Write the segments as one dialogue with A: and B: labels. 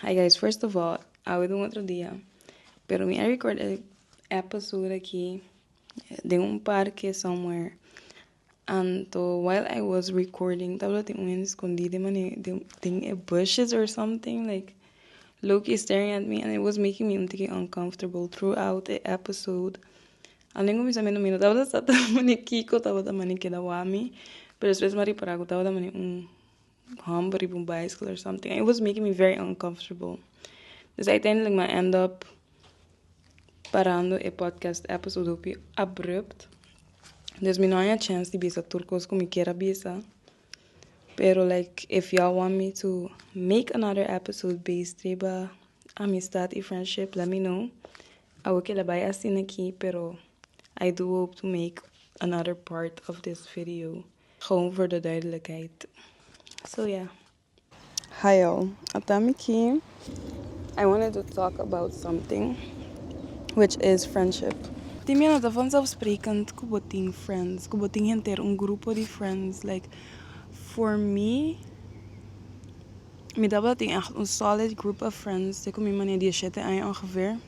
A: Hi guys, first of all, awe do un otro dia, pero mi a record e episode aki den un parke somewhere. Anto while I was recording, tabata tin un escondi den mane den den e bushes or something like Loki staring at me and it was making me un tiki uncomfortable throughout e episode. Alen ku mis amigu mira tabata sa ta mane kiko tabata mane keda wami pero despues mi ripara ku tabata mane un hump riba un bicycle or something and it was making me very uncomfortable dus uiteindelik mi a end up parando e podcast episode hopi abrupt dus mi no a haña chance di bisa tur kos ku mi kier a bisa pero like if yu want me to make another episode based riba amistad i friendship let me know Awe kila bai asina aki pero I do hope to make another part of this video gewoon voor de duidelijkheid so ya. Hi all, ata mi ki I wanted to talk about something which is friendship. Tin mi a nota vanzelfsprekend ku bo tin friends, ku bo tin henter un grupo di friends like for me Mi tabata tin echt un solid group of friends de cu mi mane diecisiete aña ongeveer.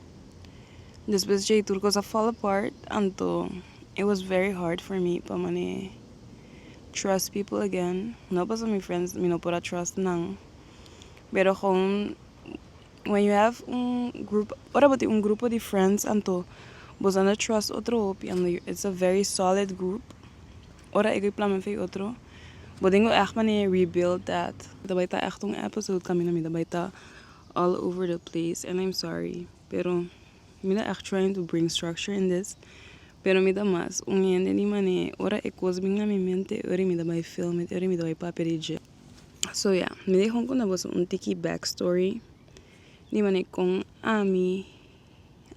A: Despues dje tur cos a fall apart anto it was very hard for me pa mane trust people again. No pasobra mi friends mi no por a trust nan pero gewoon when you have un group ora bo tin un grupo di friends anto boso a na trust otro hopi and it's a very solid group. Ora ego i plan mester e otro bo dingo ègt mane rebuild that. Ta bai ta ègt un episode kaminda mi ta bai ta all over the place and I'm sorry pero mi ta ègt trying to bring structure in this pero mi ta mas un hende di mane ora e kos bin na mi mente e ora mi ta bai film it e ora mi ta bai papia di dje. So yeah mi dei honkunda boso un tiki back story di mane kon ami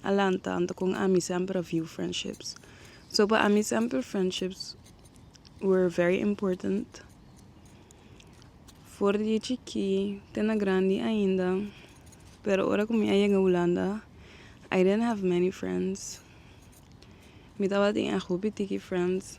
A: a lanta anto con ami semper a viu friendships. So pa ami semper friendships were very important. For di chiki te na grandi ainda. Pero ora cu mi a yega Hulanda I didn't have many friends. Mi tabatin e hopi tiki friends.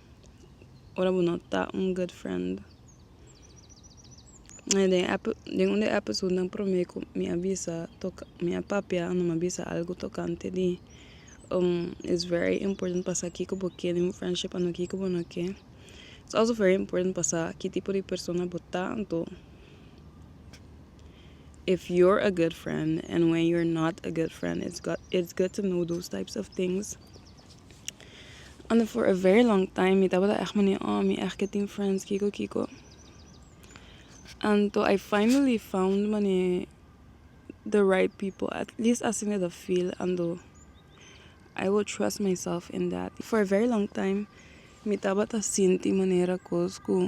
A: ora bo no ta un good friend den un de e episodenan prome ku mi a bisa mi a papia mi a bisa algu tokante di is very important pa sa kiko bo ke den un friendship and kiko bo no ke is also very important pa sa ki tipo di persona bo ta anto if you're a good friend and when you're not a good friend it's good to know those types of things. Ando for a very long time mi tabata echt mane oh mi echt ke tin friends kiko kiko anto I finally found mane the right people at least asina mi ta feel ando I will trust myself in that for a very long time mi tabata sinti manera kos ku.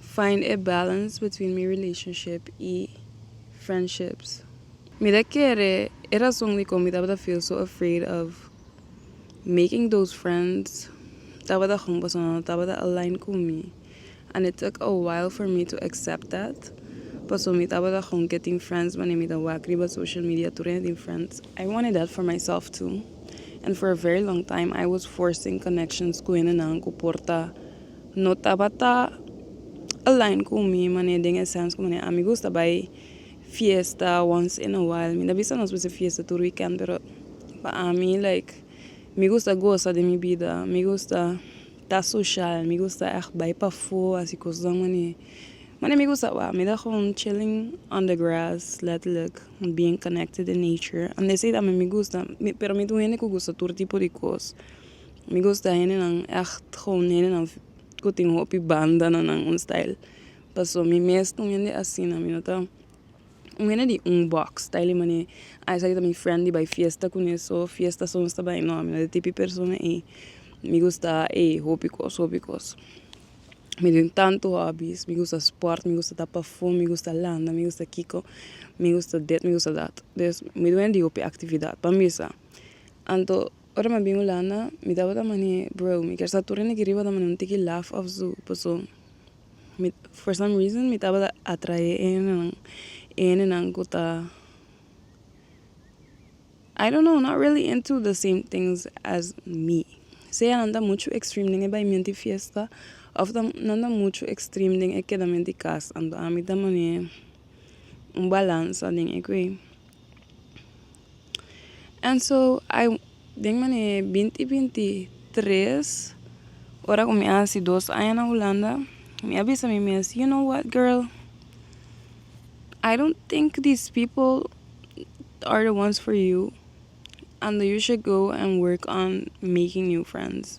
A: Find e balance between mi relationship y friendships. Mi ta kere e razon dikon mi tabata feel so afraid of making those friends tabata con personanan no tabata align cu mi and it took a while for me to accept that paso mi tabata con ke tin friends wanneer mi ta wak riba social media tur hende tin friends. I wanted that for myself too and for a very long time I was forcing connections cu hendenan cu por ta. No tabata align cu mi manera den e sense cu manera ami gusta bay fiesta once in a while. Mi ta bisa nos pues e fiesta tur weekend pero pa ami like mi gusta gosa den mi bida mi gusta ta social mi gusta echt bay pafo asi cosnan mane. Mane mi gusta wak mi ta gewoon chilling on the grass letterlijk being connected in nature and they say mi gusta pero mi ta un hende cu gusta tur tipo di cos. Mi gusta hendenan echt gewoon hendenan ku tin hopi banda na nan un style paso mi mes ta un hende asina mi no ta un hende di un box style manera ah esaki ta mi friend di bai fiesta kune so fiesta so nos ta bai no mi no e tipo persona ei mi gusta ei hopi kos hopi kos mi tin tantu hobbies mi gusta sport mi gusta ta pafom mi gusta landa mi gusta kiko mi gusta dit mi gusta dat mi ta un hende di hopi actividad pa mi sa anto Ora mi a bin Hulanda mi tabata manhé bro mi kier sa tur hende riba ta manhé un tiki laf of su paso mi for some reason mi tabata atrae e hendenan e hendenan ku ta I don't know not really into the same things as me sea nan ta muchu extreme den e baimienti fiesta of ta nan ta muchu extreme den e kedamienti kas anto ami ta manhé un balansa den ekoi. And so ai den manera e binti binti tres ora ku mi a hasi dos aña na hulanda mi a bisa mi mes you know what girl ai dont tink di pple ar di ones for you and you should go and work on making new friends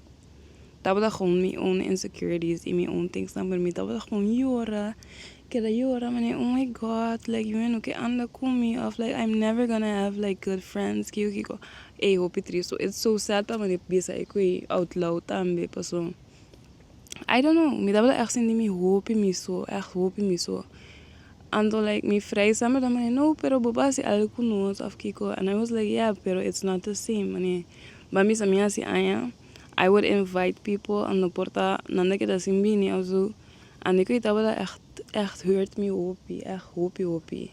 A: Tabata con mi own insecurities y mi own tingsnan pero mi tabata con yora keda yora manera oh my god like you no ke anda con mi of like I'm never gonna have like good friends kiko kiko ey hopi trist so it's so sad pa manera bisa ey cu ey out loud tambe paso I don't know mi tabata echt sinti mi hopi mi so echt hopi mi so anto like mi friends nan mi ta manera no pero boba hasi algo cu nos of kiko and I was like yeah pero it's not the same manera Ba misa mi hasi aña I would invite people a no por ta nanda ke ta sin bini of su a mi kui tabata echt echt hurt mi hopi echt hopi hopi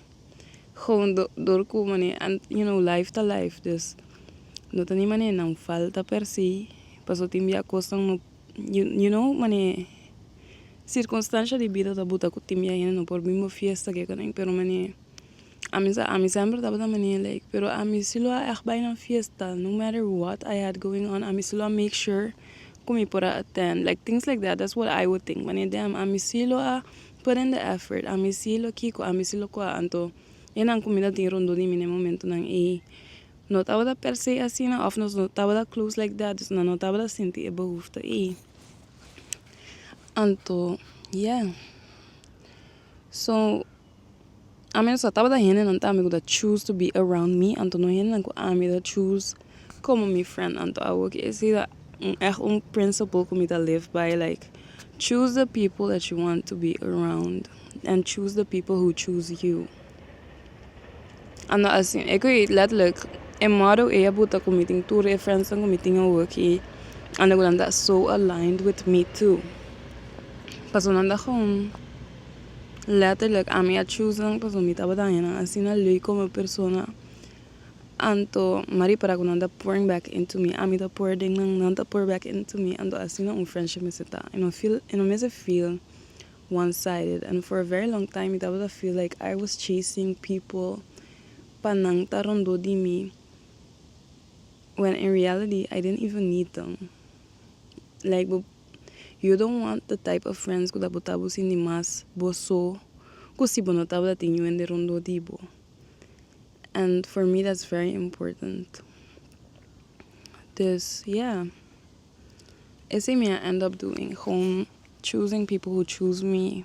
A: gewoon do dor ku mane you know life ta life dus no ta ni mane nan falta per se paso tin bia kosnan no you know mane circunstancia di bida ta buta ku tin bia hende no por bin bo fiesta ke konen pero mane Ami sa ami semper tabata mania like pero ami si lo a echt bai na fiesta no matter what I had going on ami si lo a make sure ku mi por a attend like things like that that's what I would think mane damn ami si lo a put in the effort ami si lo kiko ami si lo kua anto e nan ku mi ta tin rondo di mi den e momento nan ey no tabata per se asina of nos no tabata close like that dus nan no tabata sinti e behoefte ey anto yeah so ami no sa tabata hendenan ta ami ku ta choose to be around me anto no hendenan ku ami ta choose komo mi friend anto awo kier si ta un eh un principle ku mi ta live by like choose the people that you want to be around and choose the people who choose you anda asi e kui letterlijk e motto ei a puta ku mi tin tur e friends ku mi tin awoki ande ku nan ta so aligned with me too pasobra nan ta gewoon Letterlijk ami a choose nan pasobra mi tabata daña nan asina lui como persona anto mi a repara cu nan ta pouring back into me ami ta pour den nan nan ta pour back into me anto asina un friendship mester ta y no feel y no mester feel one sided and for a very long time mi tabata feel like I was chasing people pa nan ta rondo di mi when in reality I didn't even need them. like bo you don't want the type of friends ku ta bota bo sinti mas bo so ku si bo no tabata tin you hende rondó di bo and for me that's very important dus ya esei mi a end up doing choosing people who choose me.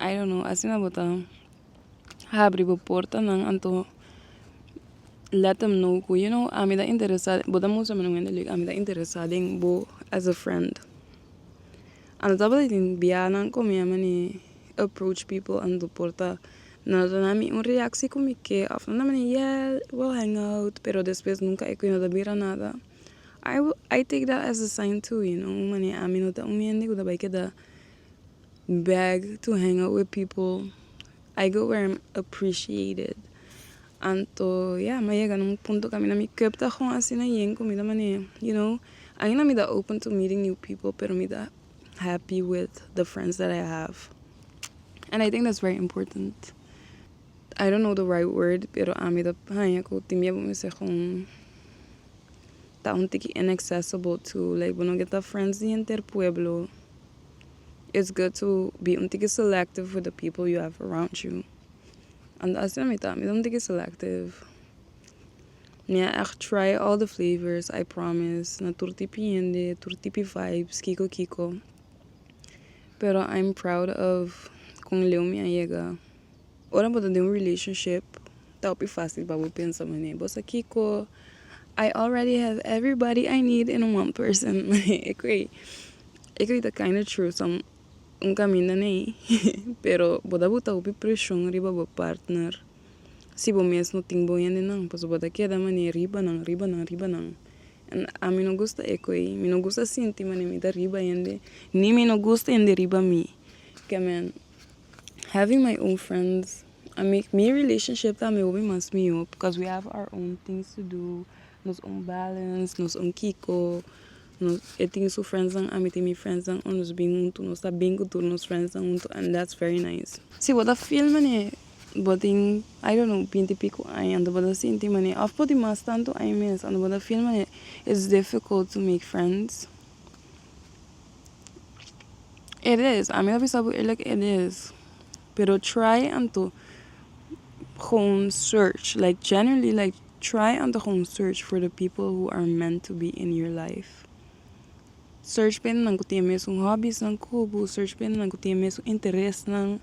A: I don't know asina bo ta habri bo portanan anto let them know ku you know ami ta interesa bo ta mustra mi un hende lek ami ta interesa den bo as a friend anto tabata tin biahanan ku mi a mane approach people anto por ta nan a duna mi un reactie ku mi ke of nan a mane yeah we will hang out pero despues nunca e ku e no ta bira nada I take that as a sign too you know mane ami no ta un hende ku ta bai keda beg to hang out with people I go where I'm appreciated anto ya mi a yega na un punto ku na mi cup ta gon asina yen ku mi ta mane you know aina mi ta open to meeting new people pero mi ta happy with the friends that I have and I think that's very important. I don't know the right word pero ami ta haña ku tin bia bo mester kon ta un tiki inaccessible to like bo no ke ta friends di henter pueblo it's good to be un tiki selective with the people you have around you and that's how mi ta mi ta un tiki selective mi a echt try all the flavors I promise na tur tipi hende tur tipi vibes kiko kiko pero I'm proud of kon leu mi a yega. Ora bo ta den un relationship ta hopi facil pa bo pensa mane bo sa kiko I already have everybody I need in one person e ku ei e ku ei ta kinda true som un kaminda nei pero bo ta bota hopi preshon riba bo partner si bo mes no tin bo hendenan pasobra bo ta keda mane riba nan riba nan riba nan en ami no gusta e ku ei mi no gusta sinti mane mi ta riba hende ni mi no gusta hende riba mi kemen Having my own friends a make mi relationship ta mi hopi mas mihó because we have our own things to do, nos own balance, nos own kiko, e tin su friendsnan ami tin mi friendsnan o nos bin huntu nos ta bin ku tur nos friendsnan huntu and that's very nice. Si bo ta feel manera bo tin I don't know binti pico aña anto bo ta sinti manera of por di mas tantu aña mes anto bo ta feel manera it's difficult to make friends. It is a mi a bisa bo eerlik it is pero try anto gewoon search like generally like try anto gewoon search for the people who are meant to be in your life search pa e nan ku tin e mesun hobby's nan ku bo search pa e nan ku tin e mesun interesnan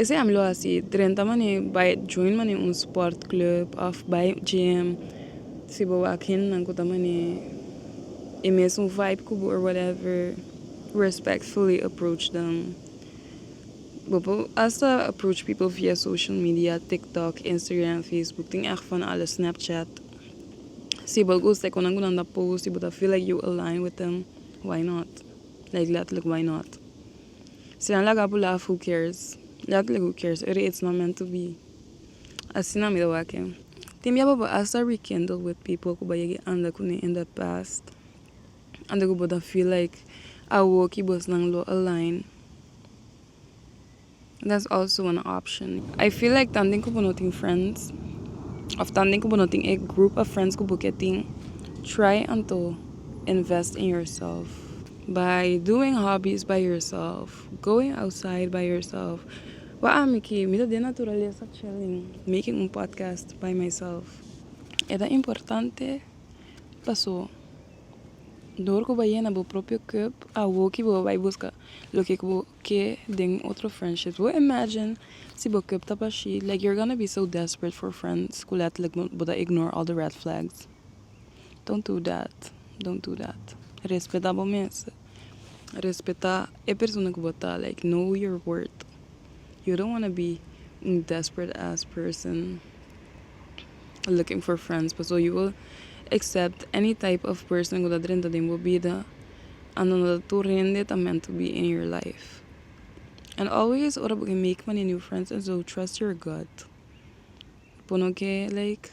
A: Esei ami lo hasi drenta mane bai join mane un sport club of bai gym si bo wak hendenan ku ta mane e mesun vibe ku bo or whatever respectfully approach dem bo por asta approach people via social media tiktok instagram facebook tin echt van alles snapchat si bo gusta e konan ku nan ta post y bo ta feel like you align with them why not like letterlijk why not. Si nan laga pulá af who cares? Ya tle who cares, ere it's not meant to be. Asina mi ta wak-e. Tin bia papá a start rekindle with people ku bo a yega a anda kuné in the past, anto ku bo ta feel like awo ki bosnan lo align. That's also an option. I feel like tan den ku bo no tin friends of tan den ku bo no tin e group of friends ku bo ke tin, try anto invest in yourself. By doing hobbies by yourself, going outside by yourself, wak ami ki mi ta den naturalesa chilling, making un podcast by myself. E ta importante paso dor ku bo yena bo propio cup awo ki bo bai buska loke ku bo ke den otro friendships. Bo imagine si bo cup ta bashi like you're gonna be so desperate for friends ku letterlijk bo ta ignore all the red flags. Don't do that, don't do that. Respeta bo mes. Respeta e persona ku bo ta. Like know your worth. You don't wanna be un desperate ass person looking for friends pasobra you will accept any type of person ku ta drenta den bo bida and no ta tur hende ta meant to be in your life. And always ora bo ke make mani new friends trust your gut. Bo no ke like